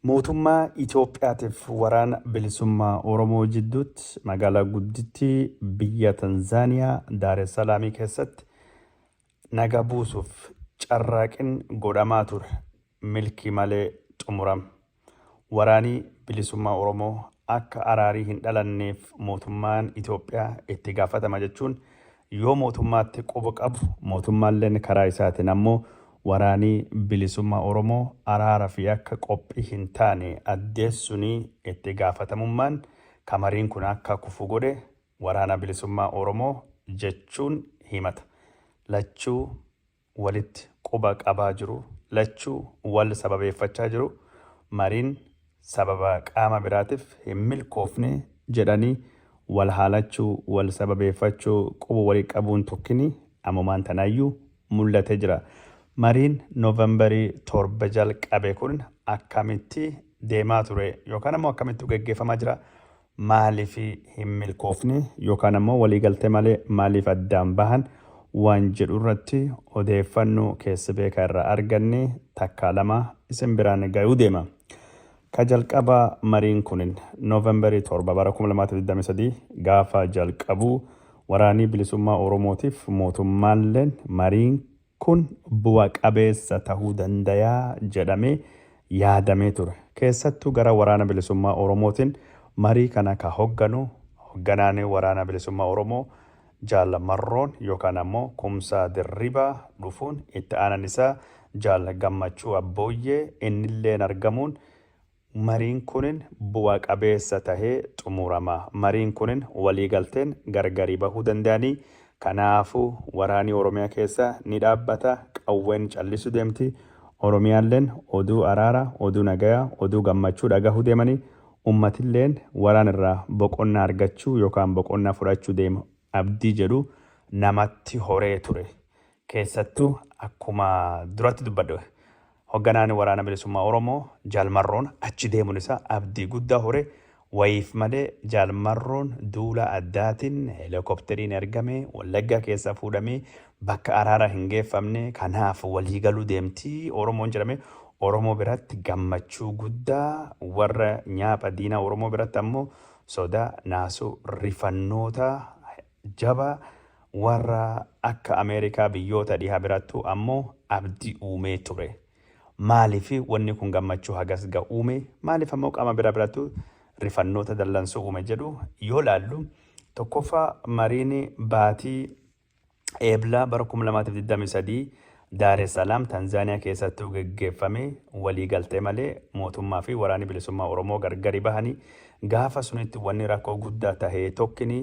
Mootummaa Itoophiyaatiif Waraana Bilisummaa Oromoo jidduutti magaalaa guddittii biyya Tanzaaniyaa Daaressalaamii keessatti naga buusuuf carraaqin godhamaa ture milkii malee xumuram. Waraanii Bilisummaa Oromoo akka araarii hin dhalanneef mootummaan Itoophiyaa itti gaafatama jechuun yoo mootummaatti quba qabu, mootummaalleen karaa isaatiin ammoo waraani bilisummaa Oromoo araara fi akka qophii hin taane addeessuni itti gaafatamummaan ka mariin kun akka kufu godhe waraana bilisummaa Oromoo jechuun himata lachuu walitti quba qabaa jiru. Lachuu wal sababeeffachaa jiru. Mariin sababa qaama biraatif hin milkoofne jedhanii wal haalachuu, wal sababeeffachuu, quba wali qabuun tokkini ammumaan tanaayyuu mul'atee jira. Mariin November 7 jalqabe kun akkamitti deemaa ture? Yookaan ammoo akkamittu geggeeffamaa jira? maaliif hin milkoofne yookaan ammoo waliigaltee malee maaliif addaan bahan waan jedhurratti odeeffannoo keessa beekaa irraa arganne takkaa lama isin biraan gayuu deema. Ka jalqabaa mariin kunin November 7 bara 2023 gaafa jalqabu Waraanii Bilisummaa Oromootiif mootummaalleen mariin Kun bu'a qabeessa tahuu dandaya jedhamee yaadamee ture. Keessattuu gara Waraana Bilisummaa Oromootin marii kana ka hogganu hogganaan Waraana Bilisummaa Oromoo Jaal Marroon yookaan ammoo Kumsaa Dirribaa dhufuun itti aanan isaa Jaal Gammachuu Abbooyyee innilleen argamuun Mariin kunin bu'a qabeessa tahee xumurama. Mariin kunin waliigalteen gargari bahuu danda'anii. Kanaafu waraani Oromiyaa keessa ni dhaabbata, qawween callisu deemti. Oromiyaalleen oduu araara, oduu nagaya, oduu gammachuu dhagahu deemanii. Ummatilleen waraan irraa boqonnaa argachuu yookaan boqonnaa fudhachu deema abdii jedhu namatti horee ture. Keessattuu akkuma duratti dubbadhe hogganaan Waraana Bilisummaa Oromoo Jaal Marroon achi deemuun isaa abdii guddaa hore, wayiif malee Jaal Marroon duula addaatiin helikopteriin ergamee Wallaggaa keessaa fuudhamee bakka araaraa hin geeffamne, kanaaf walii galuu deemti Oromoon jedhame Oromoo biratti gammachuu guddaa, warra nyaapha diinaa Oromoo biratti ammoo sodaa, naasuu, rifannoota, Jaba warra akka Ameerikaa biyyoota dhiha birattu ammo abdi uumee ture. Maalif wanni kun gammachuu hagas ga uume, maalif ammo qama bira birattu rifannoota dallansoo uume jedhu yoo laallu, tokkoffaa mariin baatii Eebla bara 2023 Daaressalaam, Tanzaaniyaa keessattuu geggeeffame walii galtee malee mootummaa fi Waraanni Bilisummaa Oromoo gargari bahani. Gaafa sunitti wanni rakkoo guddaa tahe tokkini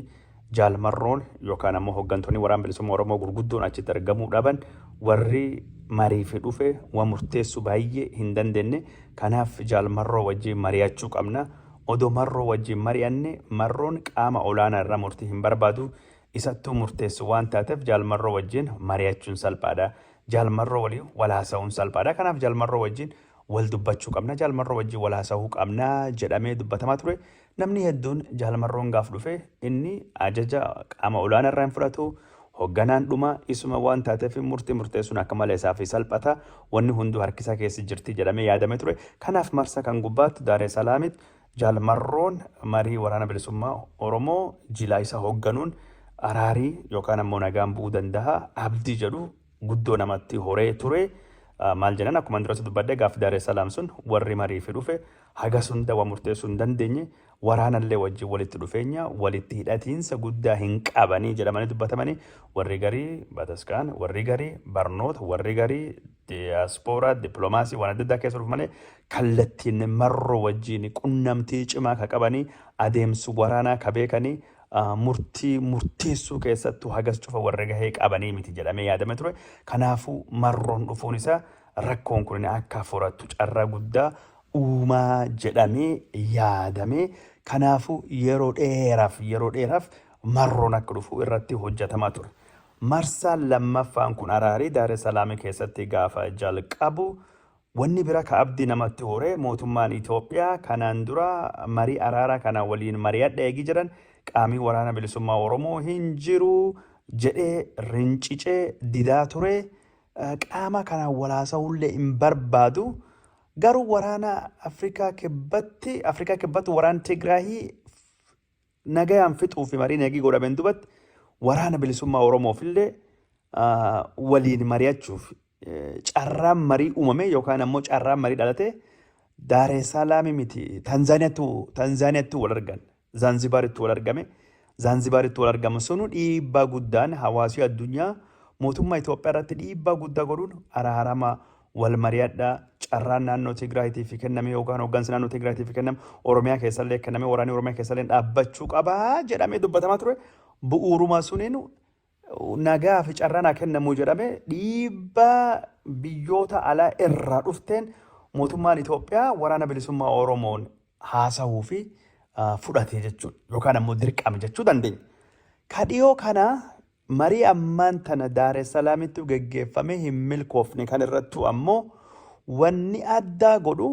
Jaal Marroon yookaan ammoo hoggantoonni Waraan Bilisummaa Oromoo gurguddoon achitti argamuu dhaban. Warri mariifi dhufe wa murteessu baayyee hin dandenne. Kanaaf Jaal Marroo wajjiin mariyachuu qabna. Odoo Marroo wajjiin mari'anne Marroon qaama olaanaa irraa murtii hin barbaadu. isattuu murteessu waan taatef Jaal Marroo wajjin mari'achuun salphaadha. Jaal Marroo waliin wal haasa'uun salphaadha. Kanaaf Jaal Marroo wajjin wal dubbachuu qabna. Jaal Marroo wajjin wal haasa'uu qabna jedhamee dubbatamaa ture. Namni hedduun Jaal Marroon gaaf dhufe inni ajaja qaama olaanaa irraa hin fudhatu. Hogganaan dhuma isuma waan taateef murtii murteessuun akka malee isaaf salphata. Wanni hunduu harkisaa keessa jirti jedhamee yaadamee ture. Kanaaf marsa kan gubbaatti Daaree Salaamitti Jaal Marroon marii Waraana Bilisummaa Oromoo jilaa isa hoogganuun araari yookaan ammoo nagaan bu'uu danda'a abdii jedhu guddoo namatti horee ture. Maal jennan akkuma duras dubbadde gaaf Daaree Salaam sun warri mariifi dhufe hagas hunda waan murteessuu hin dandeenye waraanallee wajjin walitti dhufeenya walitti hidhatiinsa guddaa hin qabanii jedhamanii dubbatamanii warri garii bataskaan warri garii barnoota warri garii diyaaspooraa dippiloomaasii waan adda addaa keessa dhufu malee kallattiin marroo wajjin qunnamtii cimaa ka qabanii adeemsi waraanaa ka beekanii ah, murtii murteessuu keessattuu hagas cufa warra gahee qabanii miti jedhamee yaadame ture. Kanaafuu marroon dhufuun isaa rakkoon kun akka furatu carraa guddaa uumaa jedhamee yaadame. Kanaafuu yeroo dheeraaf yeroo dheeraaf marroon akka dhufu irratti hojjetamaa ture. Marsaan lammaffaan kun araari Daare Salaami keessatti gaafa jalqabu wanni bira ka abdi namatti hore mootummaan Itoophiyaa kanaan dura marii araaraa kana waliin mari'adha eegi jedhan qaamii waraana bilisummaa Oromoo hin jiru jedhee rincicee didaa ture qaama kanaan walaasahullee hin barbaadu garuu waraana Afrikaa kibbatti Afrikaa kibbatti waraan Tigraahii nagayaan fixuu fi mariin eegii godhameen dubatti waraana bilisummaa Oromoof illee waliin mari'achuuf carraan marii uumame yookaan ammoo carraan marii dhalatee Daaree Saalaamii miti Tanzaaniyaattu Tanzaaniyaattu wal argan Zaanzibaaritti wal argame Zaanzibaaritti wal argamu sunu dhiibbaa guddaan hawaasii addunyaa mootummaa Itoophiyaa irratti dhiibbaa guddaa godhuun araarama wal mari'adhaa, carraan naannoo Tigraayitiif kenname yookaan hooggansi naannoo Tigraayitiif kenname Oromiyaa keessallee kenname waraanni Oromiyaa keessallee dhaabbachuu qaba jedhamee dubbatamaa ture. Bu'uuruma suniin nagaa fi carraa naa kennamu jedhame dhiibbaa biyyoota alaa irraa dhufteen mootummaan Itoophiyaa waraana bilisummaa Oromoon haasahuu fi fudhate jechuudha. Yookaan ammoo dirqame jechuu dandeenya. Ka dhiyoo kana marii ammaan tana Daaressalaamitti geggeeffame hin milkoofne kan irrattuu ammoo wanni addaa godhu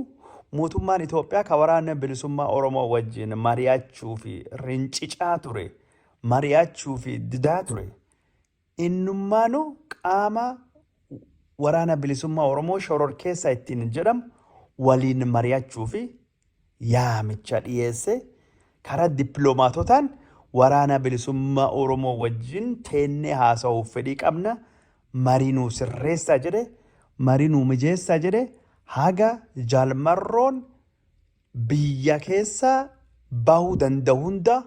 mootummaan Itoophiyaa ka waraana bilisummaa Oromoo wajjin mari'achuu fi rincicaa ture, mari'achuu fi didaa ture Innummaanuu qaama Waraana Bilisummaa Oromoo shororkeessa ittiin jedhamu waliin mari'achuufi yaamicha dhiyeessee karaa dippilomaatotaan Waraana Bilisummaa Oromoo wajjin teennee haasahuuf fedhii qabna, marii nuu sirreessaa jedhee, marii nuu mijeessaa jedhee haga Jaal Marroon Biyya keessa bahu danda'u hunda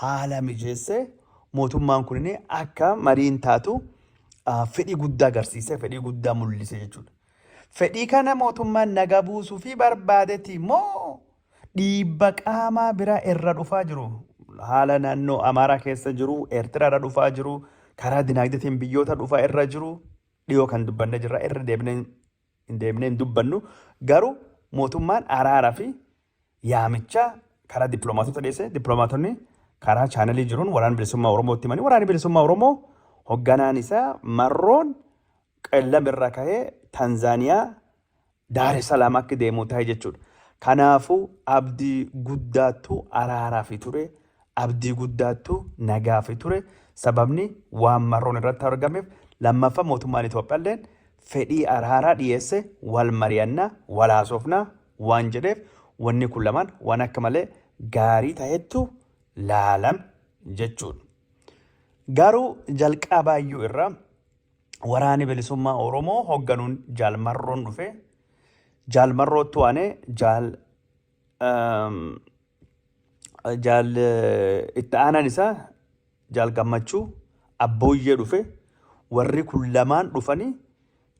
haala mijeessee mootummaan kun akka mariin taatu fedhii guddaa agarsiise, fedhii guddaa mul'ise jechuudha. Fedhii kana mootummaan nagaa buusuu fi barbaadeti immoo dhiibba qaamaa biraa irra dhufaa jiru. Haala naannoo Amaaraa keessa jiru, Eertiraa irra dhufaa jiru, karaa dinaagdeetiin biyyoota dhufaa irra jiru dhiyoo kan dubbanne jirra irra deebinee deemnee hin dubbannu garuu mootummaan araara fi yaamicha karaa dippiloomaatota dhiyeesse dippiloomaatonni karaa chaanalii jiruun waraana bilisummaa Oromootti himanii waraanni bilisummaa Oromoo hogganaan isaa marroon qellam irra kahee Tanzaaniyaa Daare Salaam akka deemu ta'e jechuudha. Kanaafuu abdii guddaattu araaraaf ture. Abdii guddaattu na gaafe ture. Sababni waan marroon irratti argameef lammaffa mootummaan Itoophiyalleen fedhii araaraa dhiyeesse wal mari'anna, wal haasofna waan jedheef wanni kun lamaan waan akka malee gaarii tahettu laalame jechuudha. Garuu jalqabaayyuu irraa Waraani Bilisummaa Oromoo hogganuun Jaal Marroon dhufe. Jaal Marroottu aanee Jaal jaal itti aanaan isaa jaal gammachuu abbooyyee dhufe warri kun lamaan dhufanii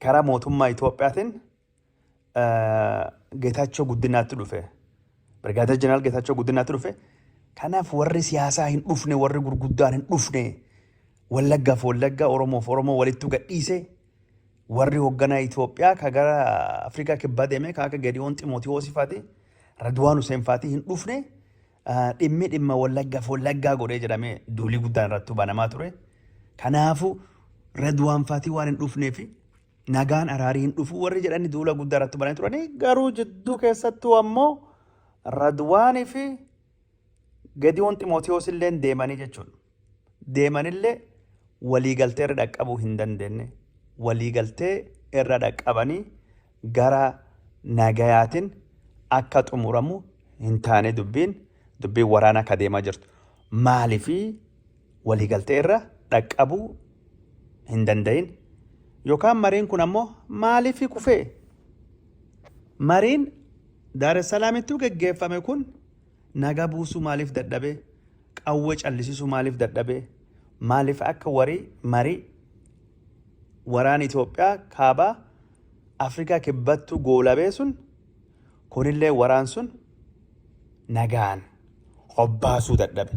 karaa mootummaa Itoophiyaatiin Geetaachoo Guddinaatti dhufe. Birgaadeer Jeneraal Geetaachoo Guddinaatti dhufe. Kanaaf warri siyaasaa hin dhufne warri gurguddaan hin dhufne wallaggaaf wallaggaa oromoof oromoo walitti gadhiise Warri hoogganaa Itoophiyaa ka gara Afrikaa kibbaa deemee ka akka Gediyoon Ximootiyoosii faati Radwaan Huseen faati hin dhufne ah, dhimmi dhimma wallaggaaf wallaggaa godhee jedhamee duulii guddaan irratti banamaa ture. Kanaafu Radwaan faati waan hin dhufneef nagaan araarii hin dhufu warri jedhani duula guddaa irratti bananii turanii garuu jidduu keessattuu ammoo Radwaanii fi Gediyoon Ximootiyoos illeen deemanii jechuudha. deemanillee waliigaltee irra dhaqqabuu hin dandeenye. Waliigaltee irra dhaqqabanii gara nagayaatiin akka xumuramu hin taane dubbiin dubbiin waraanaa akka deemaa jirtu. Maaliif waliigaltee irra dhaqqabuu hin danda'in? Yookaan mariin kun ammoo maaliif kufee? Mariin Daaressalaamitti geggeeffame kun Naga buusuu maalif dadhabe qawwe callisisu maalif dadhabe maalif akka wari mari waraana Ethiopia kaaba Africa kibbattu goolabee sun kunillee waraan sun nagaan hobbaasuu dadhabe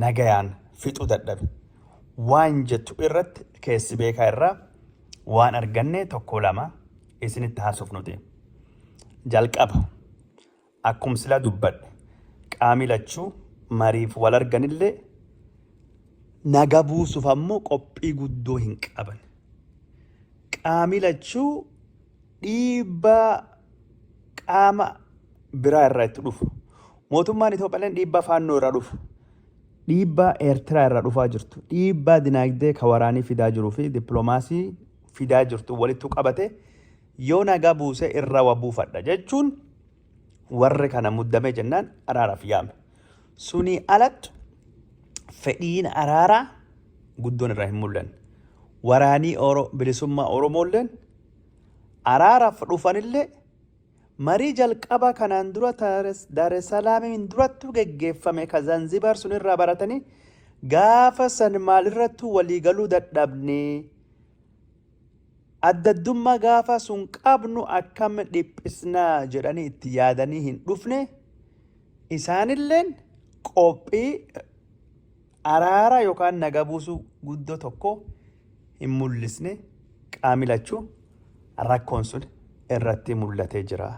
nagayaan fixuu dadhabe waan jettu irratti keessi beekaa irraa waan arganne tokko lama isinitti haasofnuti jalqaba Akkum sila dubbadhe qaami lachu mariif wal arganille naga buusuf ammo qophii guddoo hin qaban. Qaami lachu dhiibbaa qaama biraa irraa itti dhufu. Mootummaan Itoophiyaalleen dhiibbaa faannoo irraa dhufu. Dhiibbaa Eertiraa irraa dhufaa jirtu. Dhiibbaa dinaagdee ka waraanii fidaa jiruu fi dippiloomaasii fidaa jirtu walittu qabate Yoo nagaa buuse irra wa buufadha jechuun warri kana muddamee jennaan araaraaf yaame. Sunii alattu fedhiin araaraa guddoon irraa hin mul'anne. Waraanii Oro, bilisummaa Oromoolleen araaraaf dhufanillee marii jalqabaa kanaan dura Daaresalaamiin durattu geggeeffame ka Zanzibaar sun irraa baratanii gaafa san maalirrattuu walii galuu dadhabnee Addaddummaa gaafa sun qabnu akkam dhiphisna jedhanii itti yaadanii hin dhufne, isaanilleen qophii araara yookaan naga buusuu guddoo tokko hin mul'isne qaami lachuu rakkoon sun irratti mul'atee jira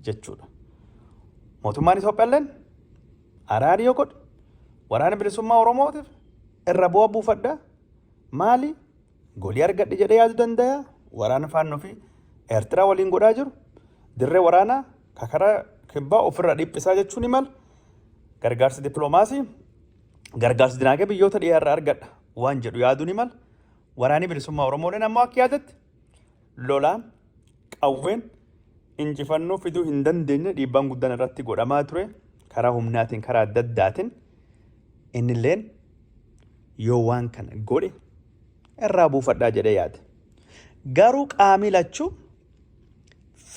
jechuudha. Mootummaan Itoophiyaalleen araari yoo godhe waraana bilisummaa Oromootiif irra bu'a buufadha maali Golii argadhe jedhee yaadu dandaya. Waraana faannoo fi Eertiraa waliin godhaa jiru. Dirree waraanaa ka karaa kibbaa ofirraa dhiphisaa jechuu ni mala. Gargaarsa dippiloomaasii, gargaarsa dinaagee biyyoota dhiyaarraa argadha waan jedhu yaaduu ni mala. Waraanni bilisummaa Oromooleen ammoo akka yaadatti Lolaan, qawween, injifannoo fiduu hin dandeenye dhiibbaan guddaan irratti godhamaa ture karaa humnaatiin karaa adda addaatiin innilleen yoo waan kana godhe irraa buufadhaa jedhee yaade. Garuu qaamii lachuu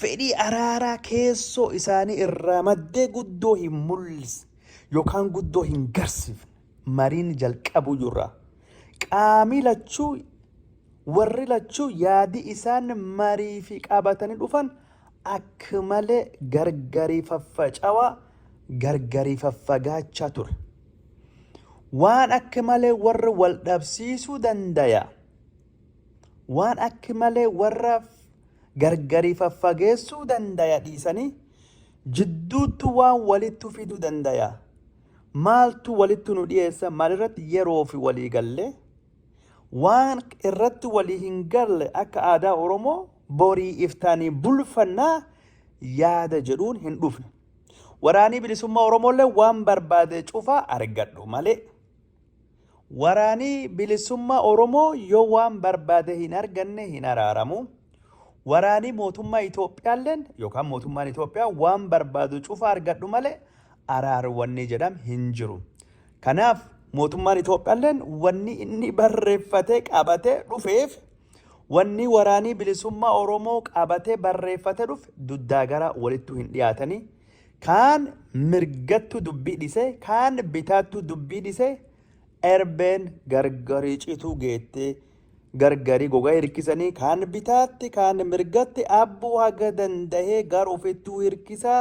fedhii araaraa keessoo isaanii irraa maddee guddoo hin mul'ise yookaan guddoo hin garsiifne mariin jalqabuu jirraa qaamii lachuu Warri lachuu yaadi isaan mariifi qabatani dhufan akk malee gargari faffacawa, gargari faffagaacha ture. Waan akk malee warra wal dhabsiisu dandaya, waan akk malee warra gargari faffageessu dandaya dhiisani jidduuttu waan walittu fidu dandaya. Maaltu walittu nu dhiyeessa? Maalirratti yeroofi walii galle? Waan irratti walii hin galle akka aadaa Oromoo borii iftaanii bulfannaa yaada jedhuun hin dhufne. Waraanii bilisummaa Oromoollee waan barbaade cufaa argadhu malee. Waraanii bilisummaa Oromoo yoo waan barbaade hin arganne hin araaramu. Waraanii mootummaa Itoophiyaalleen yookaan mootummaan Itoophiyaa waan barbaadu cufa argadhu malee araaruu wanni jedham hin jiru. Kanaaf mootummaan Itoophiyaalleen wanni inni barreeffatee qabatee dhufeef wanni waraanii bilisummaa Oromoo qabatee barreeffatee dhufe duddaa gara walittuu hin dhiyaatanii kaan mirgattuu dubbii dhisee kaan bitaattuu dubbii dhisee erbeen gargarii cituu geettee gargarii gogaa hirkisanii kaan bitaatti kaan mirgatti abbuu haga dandahee gar ofittuu hirkisaa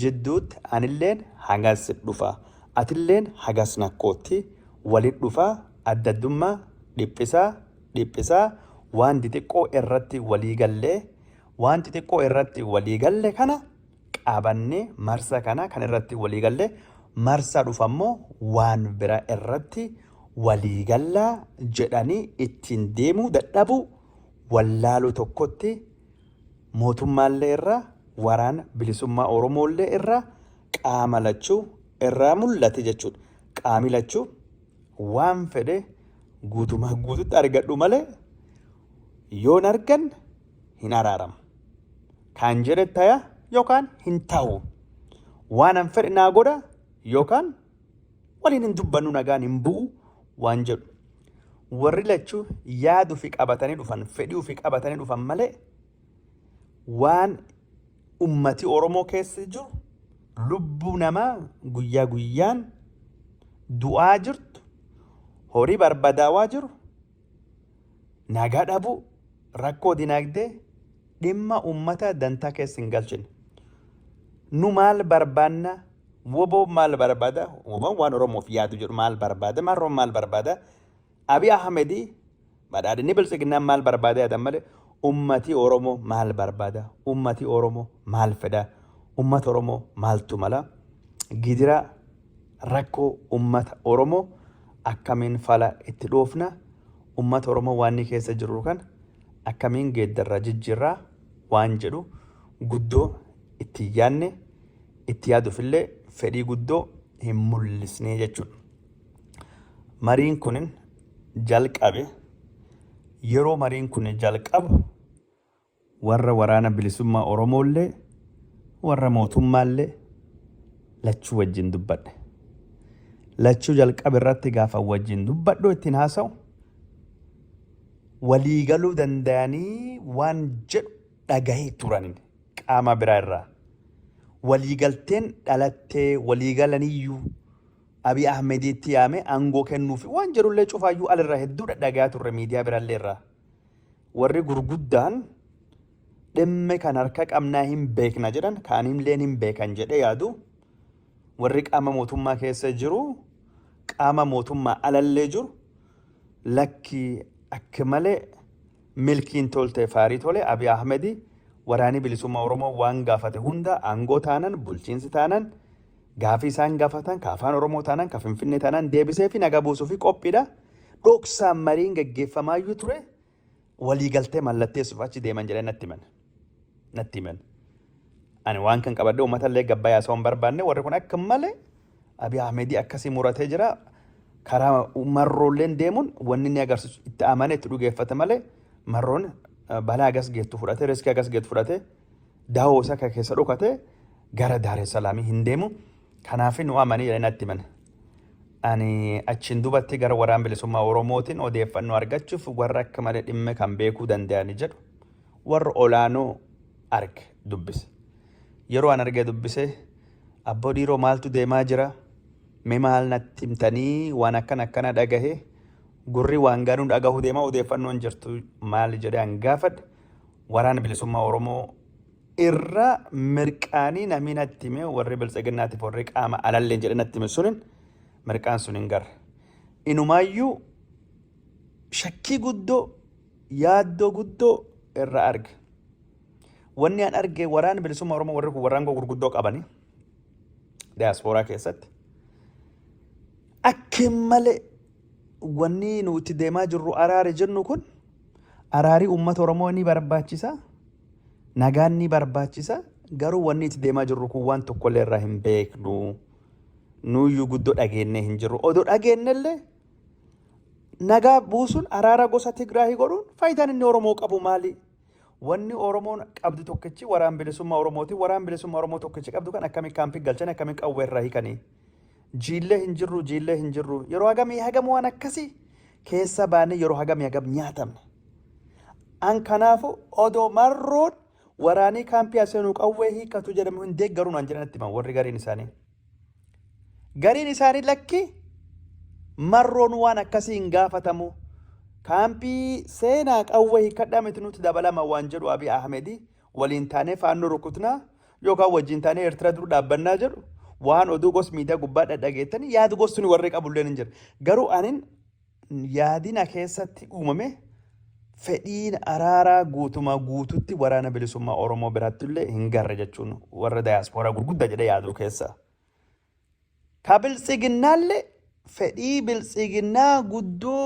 jidduutti anilleen hagas sitdhufa atilleen hagas nakkootti walin dhufa addaddummaa dhiphisaa dhiphisaa waan dixiqqoo irratti walii gallee waan xixiqqoo irratti walii galle kana qabanne marsa kana kan irratti walii galle marsa dhufammoo waan bira irratti walii gallaa jedhanii ittiin deemuu dadhabuu wallaaluu tokkotti Mootummaallee irraa, Waraana Bilisummaa Oromoollee irraa qaama lachuu irraa mullate jechuu dha. Qaami lachuu waan fedhe guutumaa guututti argadhu malee yoo hin arganne hin araaramu. Kaan jedhe taya yookaan hin tahu. Waanan fedhe naa godha yookaan waliin hin dubbannu nagaan hin bu'u waan jedhu warri lachuu yaadu fi qabatanii dhufan fedhii fi qabatanii dhufan malee waan ummati Oromoo keessa jiru lubbuu namaa guyyaa guyyaan du'aa jirtu horii barbadaawaa jiru nagaa dhabuu, rakkoo dinaagdee dhimma uummataa dantaa keessa hin galchine. Nu maal barbaanna? Woboo maal barbaada? Woboon waan Oromoof yaadu jedhu maal barbaada? Marroon maal barbaada? Abiy Ahmedii badhaadhinni biltsiginnaa maal barbaada yaadan malee ummatii Oromoo maal barbaada? Ummatii Oromoo maal fedha? Ummata Oromoo maaltu mala? Gidiraa Rakkoo ummata Oromoo akkamiin fala itti dhoofna? Ummata Oromoo waanni keessa jirru kana akkamiin geeddarra, jijjiirra waan jedhu guddoo itti hin yaadne, itti yaaduufillee fedhii guddoo hin mul'isne jechuudha. Mariin kun jalqabe. Yeroo mariin kun jalqabu Warra Waraana Bilisummaa Oromoollee, warra mootummaallee lachuu wajjin dubbadhe. Lachuu jalqaba irratti gaafan wajjin dubbadhu, ittiin haasa'u, walii galuu dandayanii waan jedhu dhagahee turan qaamaa biraa irraa. Walii galteen dhalattee, walii galaniyyuu Abiy Ahmediitti yaamee aangoo kennuufi waan jedhullee cufaayyuu al irraa hedduu dhadhagayaa turre miidiyaa birallee irraa. warri gurguddaan dhimme kan harka qabnaa hin beekna jedhan kaanilleen hin beekan jedhee yaadu warri qaama mootummaa keessa jiru qaama mootummaa alallee jiru lakki akka malee milkiin tolte faarii tole Abiy Ahmedi waraanii bilisummaa Oromoo waan gaafate hunda aangoo taanan bulchiinsi taanan gaafii isaan gaafatan ka afaan Oromoo taanan ka Finfinnee taanan deebisee fi naga buusuu fi qophiidha. Dhoksaan mariin gaggeeffamaayyuu ture waliigaltee mallatteessuuf achi deeman jedhee natti himan. Natti himan. Ani waan kan qabadde uummata illee gabbayaa osoo hin barbaanne warri kun akka malee Abiy Ahmedii akkasii muratee jira. Karaa marroolleen deemuun wanni inni agarsiisu itti amanee itti dhugeeffate malee marroon balaa agas geettu fudhate riskii agas geettu fudhate Daawoo isaa kan keessa dhokate gara Daaressalaamii hin deemu. Kanaaf nu amanii jedhanii natti himan. Ani achiin dubatti gara waraan bilisummaa Oromootiin odeeffannoo argachuuf warra akka malee dhimma kan beekuu danda'ani jedhu warra olaanoo arge dubbise. Yeroo an argee dubbise abboo dhiiroo maaltu deemaa jira mee maal natti himtanii waan akkan akkana dhagahe gurri waan gaanuu dhagahu deemaa odeeffannoon jirtu maali jedhee an gaafadhe. Waraana Bilisummaa Oromoo irra mirqaanii namii natti hime warri biltsiginnaatiif warri qaama alalleen jedhe natti hime sunin mirqaan sun hin garre. Inumaayyuu shakkii guddoo yaaddoo guddoo irra arge. Wanni an arge waraana bilisummaa Oromoo warri kun warraangoo gurguddoo qabani diyaaspooraa keessatti. Akkin malee wanni nu itti deemaa jirru araari jennu kun araari uummata Oromoo ni barbaachisa, nagaan ni barbaachisa, garuu wanni itti deemaa jirru kun waan tokkollee irraa hin beeknu. Nuyyuu guddoo dhageennee hin jirru. Odoo dhageennellee nagaa buusuun araara gosa Tigraahii godhuun faayidaan inni Oromoo qabu maali? Wanni Oromoon qabdu tokkichi waraan bilisummaa Oromooti. Waraan bilisummaa Oromoo tokkichi qabdu kan akkamiin kaampii galchan akkamiin qawwee irraa hiikanii? Jiillee hin jirru jiillee hin jirru yeroo hagamii hagam waan akkasii keessa baanee yeroo hagamii hagam nyaatamne. An kanaafu odoo marroon waraanii kaampii aseenuu qawwee hiikkatu jedhamu hin deeggaru naan jedhan itti himan warri gariin isaanii. Gariin isaanii lakki marroon waan akkasii hin gaafatamu. Kaampii seenaa qawwee hiikkadhaa miti nuti dabalama waan jedhu Abiy Ahmedi waliin taanee faannoo rukutnaa yookaan wajjin taanee Eertira dur dhaabbannaa jedhu waan oduu gos miidiyaa gubbaa dhadhageettanii yaad gosni warri qabulleen hin jira. Garuu anin yaadina keessatti uumame fedhiin araaraa guutumaa guututti waraana bilisummaa Oromoo biratti illee hin garre jechuun warra dayaaspooraa gurguddaa jedhee yaaduu keessaa. Ka biltsiginnaalle fedhii biltsiginnaa guddoo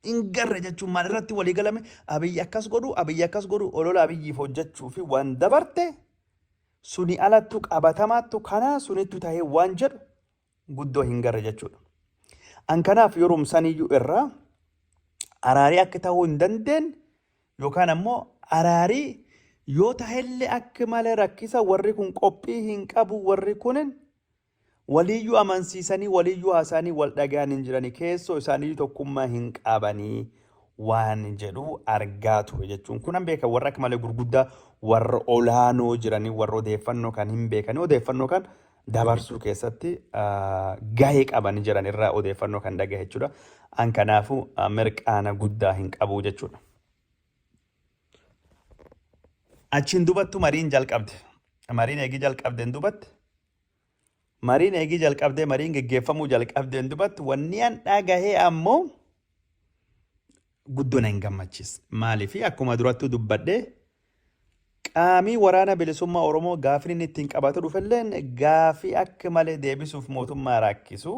hin garre jechuun maal irratti walii galame abiyyi akkas godhu abiyyi akkas godhu olola abiyyiif hojjechuu fi waan dabarte suni alattu qabatamaattu kanaa sunittu tahee waan jedhu guddoo hin garre jechuudha. An kanaaf yerumsaniyyuu irraa araarii akka tahuu hin dandeenye Yookaan ammoo araari yoo tahelle akk male rakkisa warri kun qophii hin qabu warri kunin waliiyyu amansiisanii waliiyyu haasaanii wal dhagayan hin jirani keessoo isaaniyyu tokkummaa hin qaabanii waan jedhu argaa ture jechuun kunan beeka warra akk male gurguddaa warra olaanoo jiranii warra odeeffannoo kan hin beekanii odeeffannoo kan dabarsuu keessatti gahee qaban jedhan irraa odeeffannoo kan dhagahe jechuudha. An kanaafuu mirqaana guddaa hin qabu jechuudha. Achiin dubattu mariin jalqabde. Mariin eegii jalqabdeen dubatte. Mariin eegii jalqabdee mariin geggeeffamuu jalqabdeen dubatte wanni an dhagahee ammoo guddo na hin gammachisne. Maaliif? Akkuma durattuu dubbadhe qaamii waraana bilisummaa Oromoo gaafin inni ittiin qabatu dhufelleen gaafii akka malee deebisuuf mootummaa raakkisu.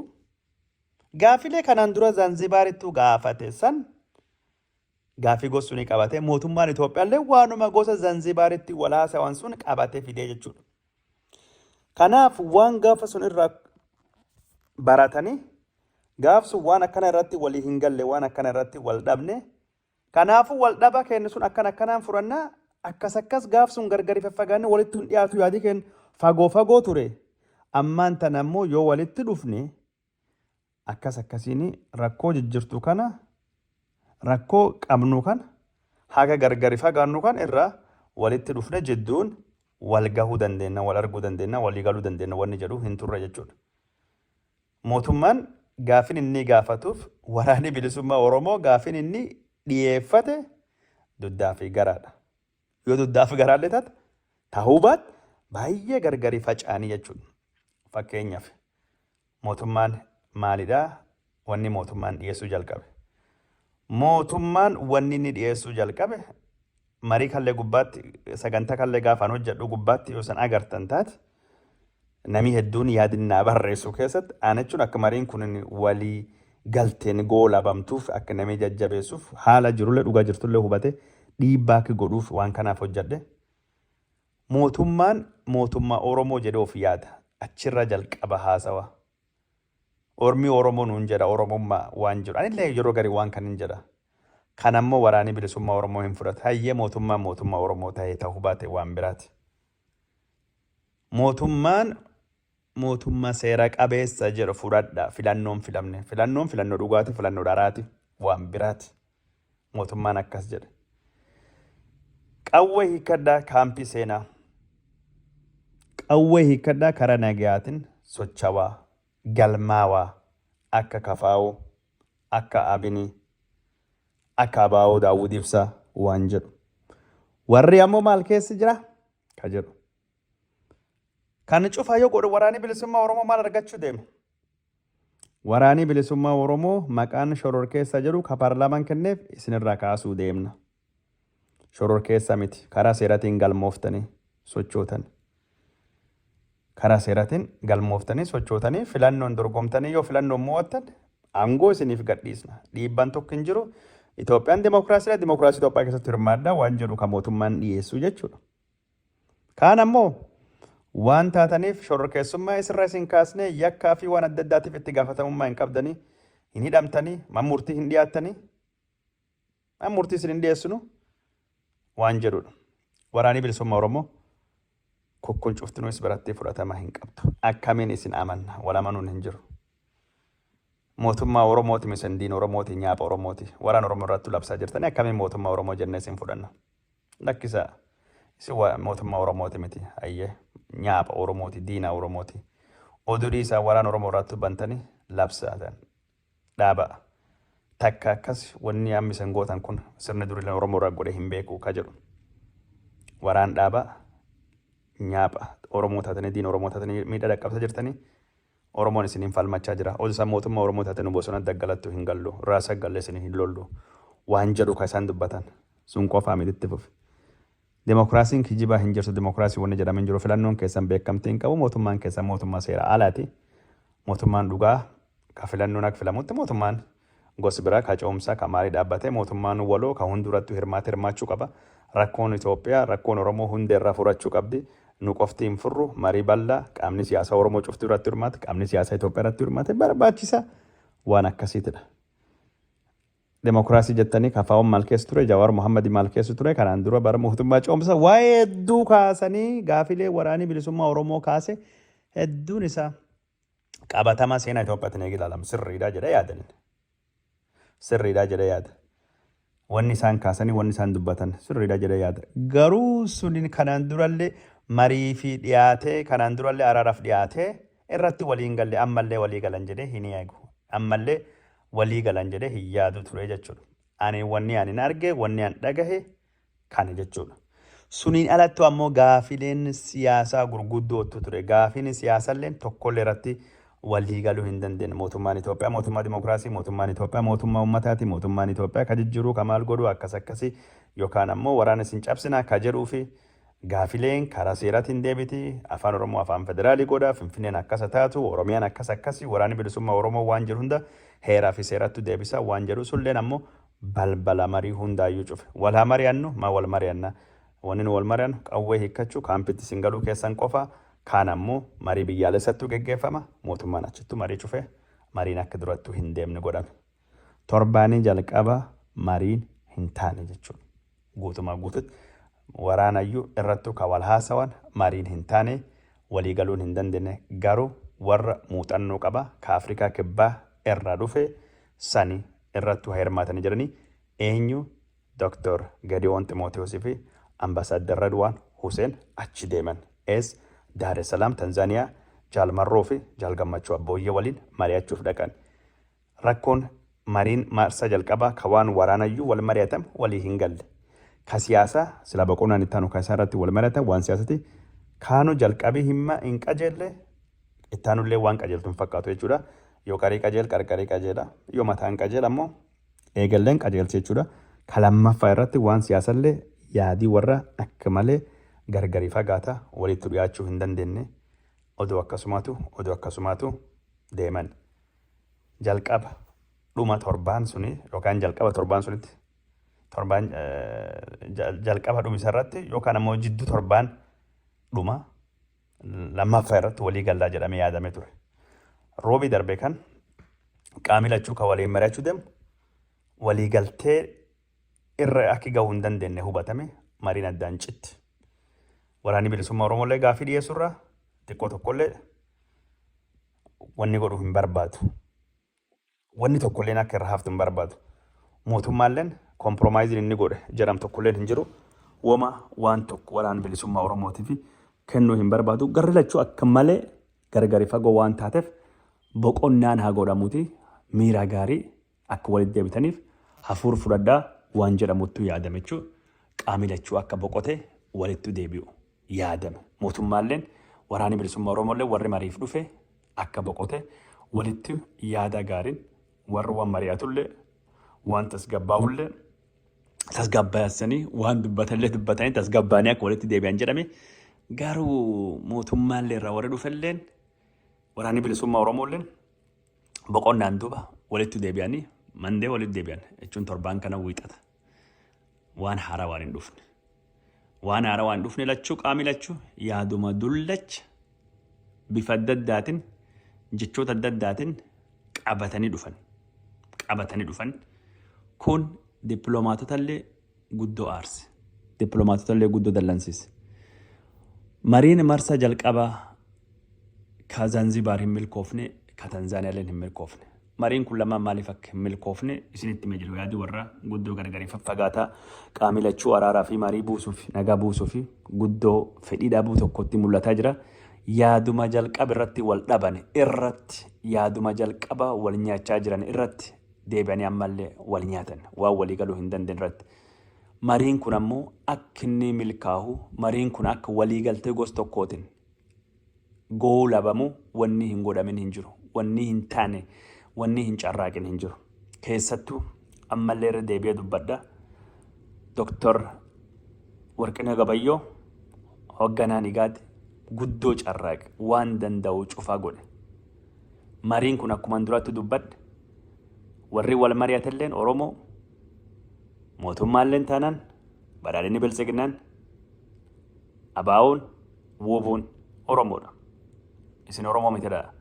Gaafilee kanaan dura Zanzibaarittuu gaafate san gaafii gosu ni qabate. Mootummaan Itoophiyaallee waanuma gosa Zanzibaaritti wal haasawan sun qabate fidee jechuudha. Kanaaf waan gaafa sun irraa baratanii gaaf sun waan akkana irratti walii hin galle waan akkana irratti wal dhabne kanaafuu wal dhaba keenya sun akkan akkanaan furannaa akkas akkas gaaf sun gargari faffagaanne walitti hin dhiyaatu yaadii keenya fagoo fagoo ture ammaan tan ammoo yoo walitti dhufne akkas akkasiin rakkoo jijjirtu kana rakkoo qabnu kana haga gargari fagaannu kan irra walitti dhufne jidduun wal gahuu dandeenya, wal arguu dandeenya, walii galuu dandeenya wanni jedhu hin turre jechuudha. Mootummaan gaafin inni gaafatuuf waraanni bilisummaa Oromoo gaafin inni dhiyeeffate duddaa fi garaadha. Yoo dugdaafi garaallee taate tahuu baat baay'ee gargari faca'anii jechuudha. Fakkeenyaaf mootummaan maalidha? Wanni mootummaan dhiyeessuu jalqabe. Mootummaan wanni inni dhiyeessuu jalqabe marii kallee gubbaatti sagantaa kallee gaafaan hojjedhu gubbaatti yoo san agartan taate Namii hedduun yaadin naa barreessu keessatti ana jechuun akka mariin kun walii galteen goolabamtuuf akka namii jajjabeessuuf haala jirullee dhugaa jirtullee hubate dhiibbaa akka godhuuf waan kanaaf hojjadhe. Mootummaan mootummaa Oromoo jedhee of yaada. Achirraa jalqaba haasawa. Ormi Oromoo nuun jedha Oromummaa waan jiru. Anillee yeroo garii waan kanin jedha. Kanammoo waraanii bilisummaa Oromoo hin fudhatu. Hayyee mootummaan mootummaa Oromoo ta'ee ta'uu baate waan biraati. Mootummaan mootummaa seera qabeessa jedhu fudhadha. Filannoon filamne. Filannoon filannoo dhugaati, filannoo dharaati, waan biraati. Mootummaan akkas jedhe. Qawwee hiikkadhaa kaampii seenaa. Qawwee hiikkadhaa karaa nagayaatiin sochawaa, galmaawaa, akka kafaa'uu, akka abinii. Akka Abaawoo Daawwid Ibsaa waan jedhu. Warri ammoo maal keessa jira? Ka jedhu. Kan cufaa yoo godhu waraanii bilisummaa Oromoo maal argachuu deema? Waraanii bilisummaa Oromoo maqaan shororkeessaa jedhu ka paarlaamaan kenneef isinirraa kaasuu deemna. shororkeessa miti karaa seeratiin galmooftanii sochootan karaa seeratiin galmooftanii sochootanii filannoon dorgomtanii yoo filannoon mo'attan aangoo isiniif gadhiisna dhiibbaan tokko hin jiru Itoophiyaan dimookiraasiidha dimookiraasii Itoophiyaa keessatti hirmaadha waan jedhu kan mootummaan dhiyeessu jechuudha. Kaan ammoo waan taataniif shororkeessummaa isirra isin kaasnee yakkaa fi waan adda addaatiif itti gaafatamummaa hin qabdanii hin hidhamtanii man murtii hin dhiyaattanii An murtii isin hin dhiyeessinu waan jedhudha. Waraanii bilisummaa Oromoo kukkun cuftinuu is biratti fudhatama hin qabdu. Akkamiin isin amanna? Wal amanuun hin jiru. Mootummaa Oromooti misan diin Oromooti nyaapha Oromooti. Waraan Oromoo irratti labsaa jirtanii akkamiin mootummaa Oromoo jennee isin fudhanna? Lakkisaa. Isin wa- mootummaa Oromooti miti. Ayyee nyaapha Oromooti diina Oromooti. Oduu dhiisaa waraan Oromoo irratti bantanii labsaa ta'an. dhaaba takka akkas wanni amma isan gootan kun sirni durilan Oromoo irraa godhe hin beeku ka jedhu waraan dhaaba nyaapha Oromoo taatanii diin Oromoo taatanii miidhaa dhaqqabsa jirtanii Oromoon isiniin falmachaa jira. Ozisan mootummaa Oromoo taate nu bosona daggalattu hin gallu. Raasa galle isin hin lollu. Waan jedhu ka isaan dubbatan. Sun qofaa miti itti fufi. Demokraasiin kijibaa hin jirtu demokraasii wanni jedhame hin jiru filannoon keessan beekamtii hin qabu mootummaan keessan mootummaa seera alaati mootummaan dhugaa ka filannoon akka filamutti mootummaan gosi biraa ka coomsaa ka maalii dhaabbatee mootummaan waloo ka hundurattu hirmaate hirmaachuu qaba rakkoon Itoophiyaa rakkoon Oromoo hundee irraa furachuu qabdi nu qofti hin furru marii bal'aa qaamni siyaasaa Oromoo cuftuu irratti hirmaate qaamni siyaasaa Itoophiyaa irratti hirmaate barbaachisa waan akkasiitidha. Demokraasii jettanii KFOn maal keessa ture, Jawaar Mohammad maal keessa ture, kanaan dura bara mootummaa coomsa waa'ee hedduu kaasanii gaafilee waraanii bilisummaa Oromoo kaase hedduun isaa qabatama seenaa Itoophiyaatiin eegi ilaalamu sirriidha jedhee yaadan. Sirriidha jedhee yaada. Wanni isaan kaasanii wanni isaan dubbatan sirriidha jedhee yaada. Garuu suniin kanaan durallee marii fi dhiyaatee kanaan durallee araaraaf dhiyaatee irratti walii hin galle ammallee walii galan jedhee hin eegu ammallee walii galan jedhee hin yaadu ture jechuudha. Ani wanni ani hin arge wanni an dhagahe kana jechuudha. Suniin alattu ammoo gaafileen siyaasaa gurguddootu ture. Gaafiin siyaasalleen tokkollee irratti walii galuu hin dandeenye. Mootummaan Itoophiyaa mootummaa dimookiraasii, mootummaan Itoophiyaa mootummaa uummataati, mootummaan Itoophiyaa ka jijjiiruu ka maal godhuu akkas akkasii yookaan ammoo waraana isin cabsinaa ka jedhuu fi Gaafileen karaa seeraatiin deebiti, Afaan Oromoo Afaan Federaalii godha, Finfinneen akkasa taatu, Oromiyaan akkas akkasi, Waraanni Bilisummaa Oromoo waan jedhu hunda heeraa fi seerattu deebisa waan jedhu sulleen ammoo balbala marii hundaayyuu cufe. Wal haa mari'annu, maa wal mari'anna? Wanni nu wal mari'annu qawwee hiikkachuu, kaampitti isin galuu keessan qofa, kaan ammoo marii biyyaalessattu geggeeffama, mootummaan achittu marii cufe, mariin akka durattu hin deemne godhame. Torbaanii jalqaba mariin hin taane jechuun guutumaa guututti waraanayyuu irrattuu ka wal haasawan mariin hin taane walii galuun hin dandeenye garuu warra muuxannoo qaba ka Afrikaa Kibbaa irraa dhufe sani irrattuu ha hirmaatanii jedhanii eenyu Dr. Gediwoon Ximootiyoos fi Ambasaaddar Redwaan Huseen achi deeman es Daaresalaam Tanzaaniyaa Jaal Marroo fi Jaal Gammachuu Abbooyyee waliin mari'achuuf dhaqan. Rakkoon mariin maarsaa jalqabaa ka waan waraanayyuu wal mari'atan walii hin galle. Ka siyaasaa silaa boqonnaan itti aanu ka isaa irratti wal mari'atan waan siyaasati. Kaanu jalqabii himma hin qajeelle itti aanullee waan qajeeltu hin fakkaatu jechuudha. Yoo qarii qajeel qarqarii qajeela. Yoo mataan qajeel ammoo eegalleen qajeelti jechuudha. Ka lammaffaa irratti waan siyaasallee yaadii warra akka malee gargari fagaata walitti dhiyaachuu hin dandeenne. Odoo akkasumaatu odoo akkasumaatu deeman. jalqaba dhuma torbaan suni yookaan jalqaba torbaan sunitti torbaan jalqaba dhumisa irratti yookaan ammoo jiddu torbaan dhuma lammaffaa irratti walii gallaa jedhamee yaadame ture. Roobii darbe kan qaamni lachuu kan waliin mari'achuu deemu walii galtee irra akki gahuu hin dandeenye hubatame mariin addaan citti. Waraanni bilisummaa Oromoo illee gaaffii dhiyeessurraa xiqqoo tokkollee wanni godhu hin barbaadu. Wanni tokkolleen akka irra haftu hin barbaadu. Mootummaalleen kompromaayiziin inni godhe jedhamu tokkolleen hin jiru. Woma waan tokko waraana bilisummaa Oromootiif kennuu hin barbaadu. Garri lachuu akka malee gargari fagoo waan taateef boqonnaan haa godhamuuti miira gaarii Akka walitti deebitaniif hafuur fudhadhaa waan jedhamuttu yaadame jechuu qaami lachuu akka boqote walittu deebi'u yaadame mootummaalleen waraani bilisumma oromoolleen warri mariif dhufe akka boqote walittu yaada gaarin warri wan mari'atullee waan tasgabbaahullee tasgabbaasanii waan dubbatallee dubbatanii tasgabbaanii akka walitti deebi'an jedhame garuu mootummaallee irraa warri dhufelleen waraani bilisumma oromoolleen boqonnaan duuba walitti deebi'anii mandee walitti deebi'an jechuun torbaan kana wiixata waan haaraa waan hin dhufne. Waan haaraa waan hin dhufne lachuu qaamni lachuu yaaduma dullacha bifa adda addaatiin jechoota adda addaatiin qabatanii dhufan. Qabatanii dhufan kun dippiloomaatota illee guddo aarse. Diplomaatotallee guddo dallansiise. Mariin marsaa jalqabaa ka Zanzibaar hin milkoofne, ka Tanzaaniyaalleen hin milkoofne. Mariin kun lamaan maaliif akka hin milkoofne isinitti himee jiru yaadi warraa guddoo gargari faffagaataa qaamii lachuu araaraa fi marii buusuuf nagaa buusuuf guddoo fedhii dhabuu tokkotti mul'ataa jira. Yaaduma jalqaba irratti wal dhabane irratti yaaduma jalqaba wal nyaachaa jiran irratti deebi'anii ammallee wal nyaatan waan walii galuu hin dandeenye irratti. Mariin kun ammoo akka inni milkaahu mariin kun akka walii galtee gos tokkootiin goolabamu wanni hin godhamin hin jiru. Wanni hin taane wanni hin carraaqin hin jiru. Keessattuu ammallee irra deebi'ee dubbadha. Doktor Warqinee Gabayyoo hogganaan igaad guddoo carraaqe waan danda'u cufaa godhe. Mariin kun akkuman duratti dubbadhe warri wal mari'atelleen Oromoo mootummaalleen taanaan badhaadhinni biltsiginnaan abaa'oon wuubuun Oromoodha. Isin Oromoo mitidha.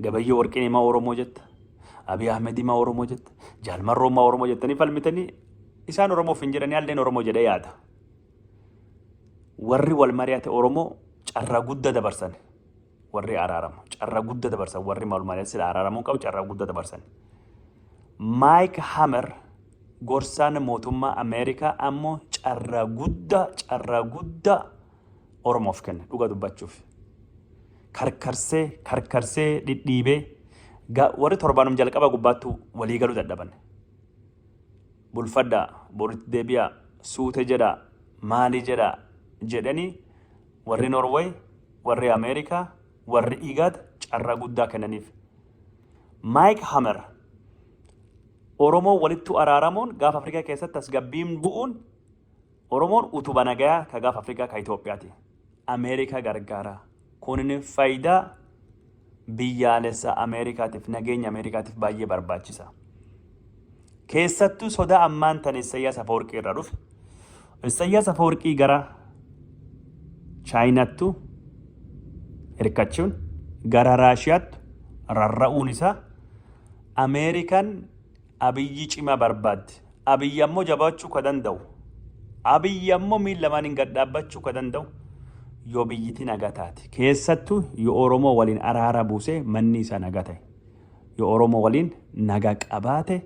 Gabayyoo warqiin himaa Oromoo jetta. Abiy Ahmed himaa Oromoo jetta. Jaalmarroo himaa Oromoo jettanii falmitanii isaan Oromoof hin jedhanii halleen Oromoo jedhee yaada. Warri wal mari'ate Oromoo carraa guddaa dabarsani. warri araaramu carraa gudda dabarsan warri malumaalee sila araaramuu qabu carraa gudda dabarsan. Maayik Hamer gorsaan mootummaa Ameerikaa ammoo carraa guddaa carraa guddaa Oromoof kenna dhuga dubbachuuf. Karkarsee karkarsee dhidhiibee ga- warri torbaanum jalqaba gubbaattu walii galuu dadhaban. Bulfadhaa boritti deebi'aa suute jedhaa maali jedhaa jedhanii Warri Norway, warri Ameerika, warri IGAD carraa guddaa kennaniif. Mike Hammer Oromoo walittu araaramuun gaafa Afrikaa keessatti tasgabbiin bu'uun Oromoon utuba nagayaa ka gaafa Afrikaa ka Itoophiyaati. Ameerikaa gargaara. Kunin faayidaa biyyaalessa Ameerikaatiif nageenya Ameerikaatiif baay'ee barbaachisa. Keessattuu sodaa ammaan tan Issayyaas Afawarqii irraa dhufe. Issayyaas Afawarqii gara Chaayinaattu hirkachuun gara Raashiyaattu rarra'uun isaa Ameerikaan Abiyyi cimaa barbaaddi. Abiyyi ammoo jabaachuu ka danda'u, Abiyyi ammoo miil lamaaniin gad dhaabbachuu ka danda'u yoo biyyiti nagaa taate. Keessattuu yoo Oromoo waliin araara buusee manni isaa nagaa ta'e. Yoo Oromoo waliin nagaa qabaate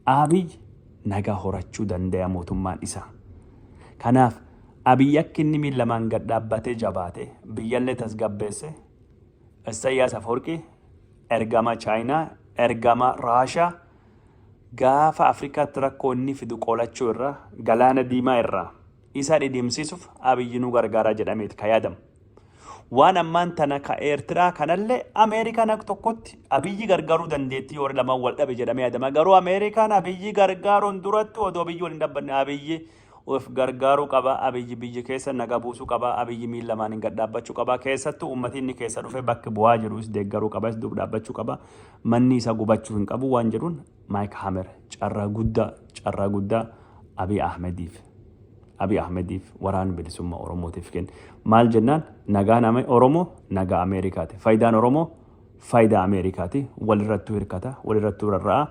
Abiyyi nagaa horachuu dandaya mootummaan isaa. Kanaaf Abiyyi akka inni miil lamaan gad dhaabbatee jabaatee biyyallee tasgabbeessee Issayyaas Afawarqi ergama Chaayinaa, ergama Raashaa gaafa Afrikaatti rakkoo inni fidu qolachuu irra galaana diimaa irraa isa dhidhimsiisuuf Abiyyi nu gargaaraa jedhameeti ka yaadamu. Waan ammaan tana ka Eertiraa kanallee Ameerikaan akka tokkotti Abiyyi gargaaruu dandeettii warri lamaan wal dhabe jedhamee yaadama. Garuu Ameerikaan Abiyyi gargaaruun duratti odoo Abiyyi waliin dhaabbanne Abiyyi Of gargaaruu qaba Abiy biyya keessa naga buusu qaba Abiy miil lamaanin gad dhaabbachu qaba keessattu ummati inni keessa dhufe bakki bu'aa jiru is deeggaruu qaba is duub dhaabbachu qaba manni isa gubachu hin qabu waan jedhuun Maayik Hamer carraa guddaa carraa guddaa Abiy Ahmediif Abiy Ahmediif waraan bilisummaa Oromootiif kenna maal jennaan nagaan ame Oromoo nagaa Ameerikaati faayidaan Oromoo faayidaa Ameerikaati walirrattuu hirkata walirrattuu rarra'a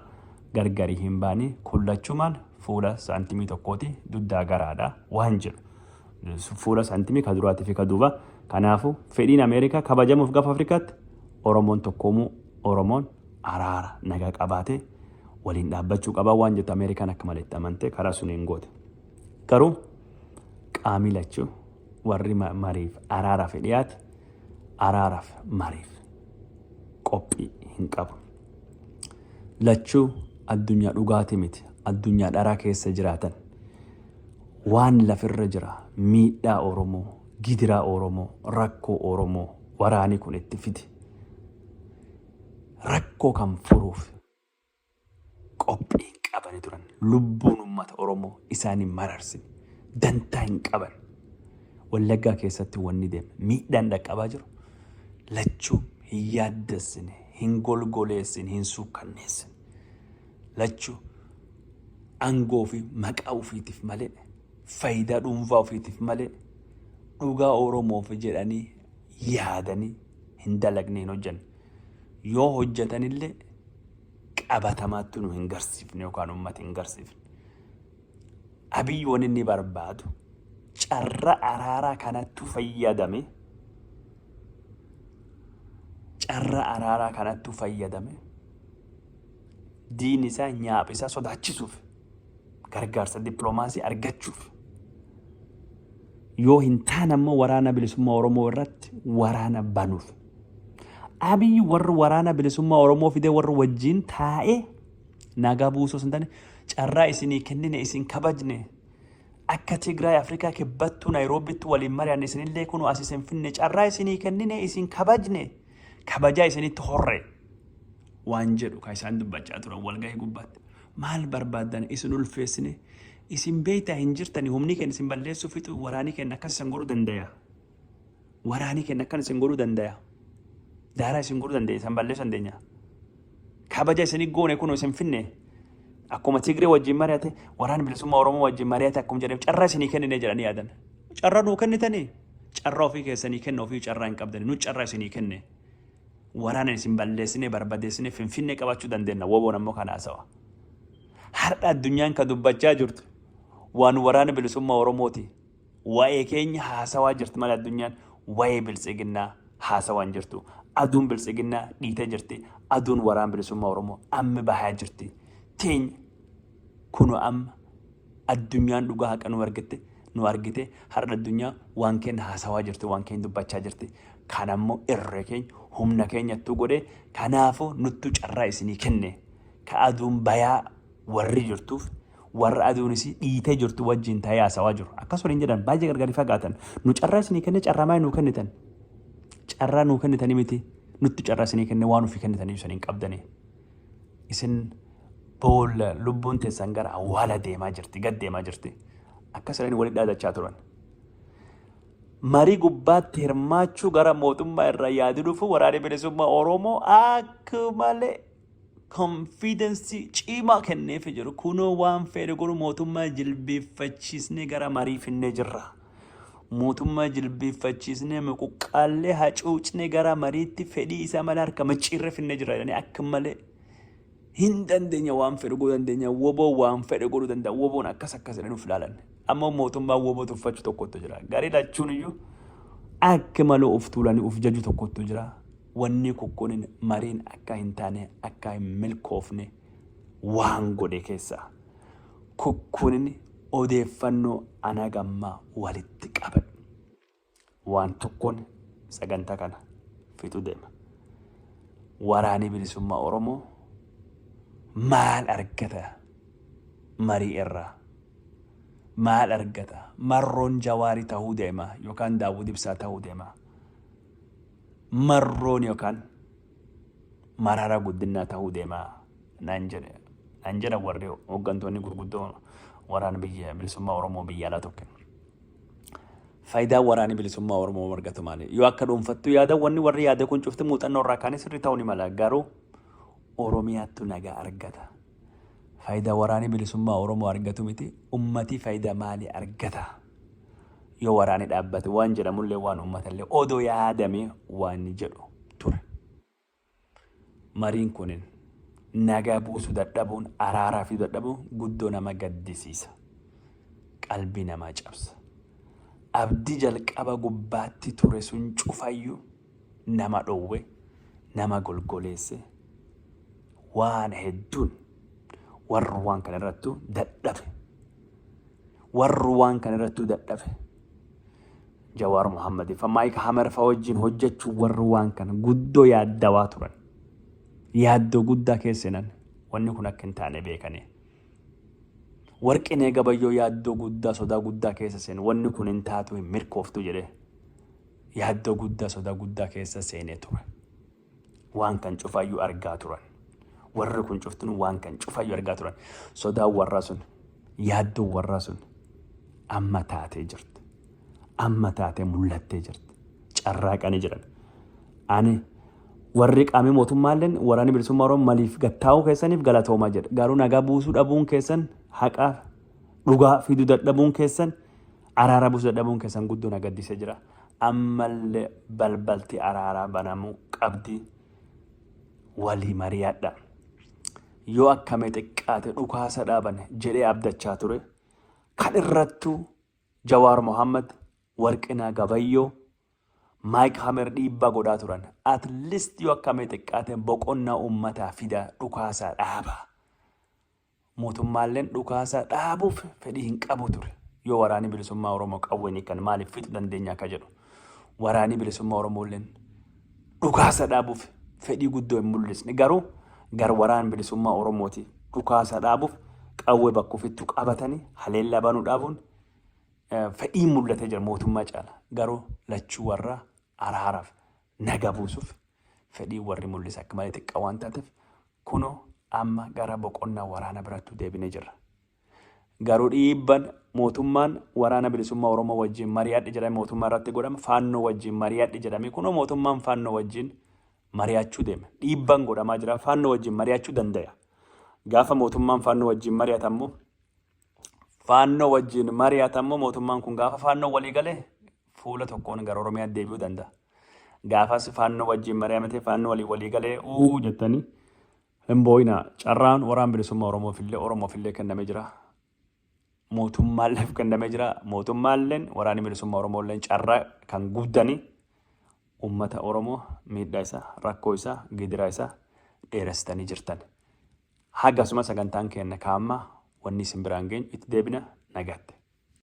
gargari hin baane kun lachumaan fuula saantimii tokkooti duddaa garaadha waan jedhu fuula saantimii ka duraatii fi ka duuba kanaafu fedhiin ameerikaa kabajamuuf gafa afrikaatti oromoon tokkoomuu oromoon araara nagaa qabaatee waliin dhaabbachuu qabaa waan jettu ameerikaan akka maletti amantee karaa suniin goote garuu qaamii lachuu warri mariif araaraaf dhiyaate araaraaf mariif qophii hin qabu. lachuu addunyaa dhugaati miti addunyaa dharaa keessa jiraatan waan lafirra jira miidhaa oromoo gidiraa oromoo rakkoo oromoo waraanii kun itti fide rakkoo kan furuuf qophiin qabani turan lubbuun ummata oromoo isaanii mararsin dantaa hin qaban wallaggaa keessatti wanni deema miidhaan dhaqqabaa jiru lachuu Hin yaaddessine, hin golgoleessine, hin suukkanneessine. Lachu aangoo fi maqaa ofiitiif malee, faayidaa dhuunfaa ofiitiif malee, dhugaa Oromoof jedhanii yaadanii hin dalagne hin hojjanne. Yoo hojjatanillee qabatamaatti nu hin garsiifne yookaan uummata hin garsiifne. Abiy wanni inni barbaadu carra araaraa kanattu fayyadame carra araaraa kanattu fayyadame diin isaa nyaapha isaa sodaachisuuf gargaarsa dippiloomaasii argachuuf yoo hin taane ammoo waraana bilisummaa Oromoo irratti waraana banuuf. Abiy warra waraana bilisummaa Oromoo fidee warra wajjin taa'ee Nagaa buusuu osoo hin taane carraa isinii kennine isin kabajne akka Tigraay Afrikaa kibbattuu Naayiroobitti waliin mari'anne isinillee kunoo as isin finne carraa isinii kennine isin kabajne kabajaa isinitti horre waan jedhu kan isaan dubbachaa turan walgahii gubbaatti. Maal barbaadan isin ulfeessine isin beektaa hin jirtani humni keenya isin balleessuu fixu waraanii keenya akkas isin godhuu danda'a. Waraanii kenna akkan isin godhuu dandaya. Daaraa isin godhuu dandaya. Isan balleessu dandeenya. Kabaja isinii goone kun isin finne. Akkuma Tigree wajjin mari'ate waraan bilisummaa Oromoo wajjin mari'ate akkuma jedhame carraa isinii kennine jedhanii yaadan. Carraa nuu kennitanii carraa ofii keessanii kenna ofii carraa hin qabdani nu carraa isinii kenne. Waraana isin balleessine barbadeessine finfinne qabachuu dandeenya. Woboon ammoo kan haasawa. Har'a addunyaan kan dubbachaa jirtu waan waraana bilisummaa Oromooti. Wa'ee keenya haasawaa jirti mala addunyaan wa'ee biltsiginnaa haasawaan jirtu. Aduun biltsiginnaa dhiitee jirti. Aduun waraan bilisummaa Oromoo amma bahaa jirti. Teenya kuno amma addunyaan dhugaa haqa nu argitte nu argite har'a addunyaa waan keenya haasawaa jirti waan keenya dubbachaa jirti. Kan ammoo irree keenya humna keenyattuu godhe kanaafuu nuttu carraa isinii kenne. Ka aduun bayaa Warri jirtuuf warra aduun isii dhiitee jirtu wajjiin ta'ee haasawaa jiru. Akkas waliin jedhan baay'ee gargar hin fagaatan. Nu carraa isinii kenne carraa maal nuu kennitan? Carraa nuu kennitanii miti nutti carraa isinii kenne waan ofii kennitan iyyuu isiniin qabdanii. Isin boolla lubbuun teessan gara awwaala deemaa jirti gad deemaa jirti. Akkas jedhanii walitti dhaadachaa turan. Marii gubbaatti hirmaachuu gara mootummaa irraa yaadi dhufu waraanni bilisummaa Oromoo akka malee konfiidensii ciimaa kenneefi jiru kunoo waan feere godhu mootummaa jilbeeffachiisnee gara marii finnee jirra. Mootummaa jilbeeffachiisnee muquqqaallee hacuucnee gara mariitti fedhii isaa malee harka micciirree finnee jirra jedhanii akka malee hin dandeenya waan fedhe godhuu dandeenya woboo waan fedhe godhuu danda'a woboon akkas akkas jedhanii of ilaalan. Amma mootummaa woboo tuffachu tokkotu jira. Garee lachuun iyyuu akka malee of tuulanii of jaju tokkotu jira. Wanni kukkunin mariin akkaa hin taane akkaa hin milkoofne waan godhe keessaa kukkunin odeeffannoo an haga ammaa walitti qabadhe waan tokkoon sagantaa kana fixuu deema. Waraanii bilisummaa Oromoo maal argata marii irraa? Maal argata? Marroon Jawaarii tahuu deema yookaan Daawud Ibsaa tahuu deema. marroon yookaan marara guddinaa ta'uu deema naan jedhe naan jedha warri hooggantoonni gurguddoo waraana biyya bilisummaa Oromoo biyya alaa tokko. Faayidaa waraana bilisummaa Oromoo margatu maali? Yoo akka dhuunfattu yaada wanni warri yaada kun cufti muuxannoo irraa kaanis sirri ta'uu ni mala garuu Oromiyaattu nagaa argata. Faayidaa waraana bilisummaa Oromoo argatu miti ummati faayidaa maali argata? yoo waraanni dhaabbate waan jedhamullee waan uummatallee odoo yaadame waan jedhu ture. Mariin kunin nagaa buusu dadhabuun araaraa fi dadhabuun guddoo nama gaddisiisa. Qalbii namaa cabsa. Abdii jalqaba gubbaatti ture sun cufayyuu nama dhowwe, nama golgoleesse, waan hedduun warri waan kana irrattu dadhabe. Warri waan kana irrattu dadhabe. Jawaar Muhammad fa Maayik Hamer fa wajjin hojjechuu warri waan kana guddoo yaaddawaa turan. Yaaddoo guddaa keessan wanni kun akka hin taane beekanii. Warqinee gabayyoo yaaddoo guddaa sodaa guddaa keessa seen wanni kun hin taatu hin mirkooftu jedhee. Yaaddoo guddaa sodaa guddaa keessa seenee ture. Waan kan cufaayyuu argaa turan. Warri kun cuftinuu waan kan cufaayyuu argaa turan. Sodaan warraa sun, yaaddoon warraa sun amma taatee jirti. Amma taatee mul'attee jirti. Carraaqanii jiran. Ani warri qaamii mootummaalleen waraanni bilisummaa Oromoo maliif gattaa'uu keessaniif galatoomaa jedha. Garuu nagaa buusuu dhabuun keessan haqaa dhugaa fiduu dadhabuun keessan Araara busu dadhabuun keessan guddoo na gaddise jira. Ammalle balbalti araaraa banamu qabdi. Walii mari'adha. Yoo akkame xiqqaate dhukaasa dhaaban jedhee abdachaa ture. Kan irrattu Jawaar Mohaammed, Warqinaa Gabayyoo, Maayik Hamer dhiibbaa godhaa turan. At least yoo akkame xiqqaate boqonnaa uummataa fida dhukaasaa dhaaba. Mootummaalleen dhukaasa dhaabuuf fedhii hin qabu ture. Yoo waraanii bilisummaa Oromoo qawween hiikan maaliif fixu dandeenya akka jedhu. Waraanii bilisummaa Oromoolleen dhukaasa dhaabuuf fedhii guddoo hin mul'isne. Garuu gar waraan bilisummaa Oromooti dhukaasa dhaabuuf qawwee bakka ofittu qabatanii haleellaa banuu dhaabuun fedhiin mul'atee jira mootummaa caala. Garuu lachuu warraa araaraaf naga buusuuf fedhiin warri mul'ise akka malee xiqqaa waan taateef kunoo amma gara boqonnaa waraana birattuu deebine jirra. Garuu dhiibban mootummaan waraana bilisummaa Oromoo wajjin mari'adhe jedhame mootummaa irratti godhame faannoo wajjin mari'adhe jedhame kunoo mootummaan faannoo wajjin mari'achuu deeme. Dhiibban godhamaa jira faannoo wajjin mari'achuu dandaya. Gaafa mootummaan faannoo wajjin mari'atammoo faannoo wajjin mari'atammoo mootummaan kun gaafa faannoo walii galee fuula tokkoon gara Oromiyaa deebi'uu danda'a. Gaafas faannoo wajjin mari'amatee faannoo walii walii galee uu jettanii hin boo'ina. Carraan waraan bilisummaa Oromoofillee Oromoofillee kennamee jira. Mootummaalleef kennamee jira. Mootummaalleen waraanni bilisummaa Oromoolleen carraa kan guddanii uummata Oromoo miidhaa isaa, rakkoo isaa, gidiraa isaa dheeressitanii jirtan. Hagasuma sagantaan keenya kaammaa wanni isin biraan geenyu itti deebina nagaatti.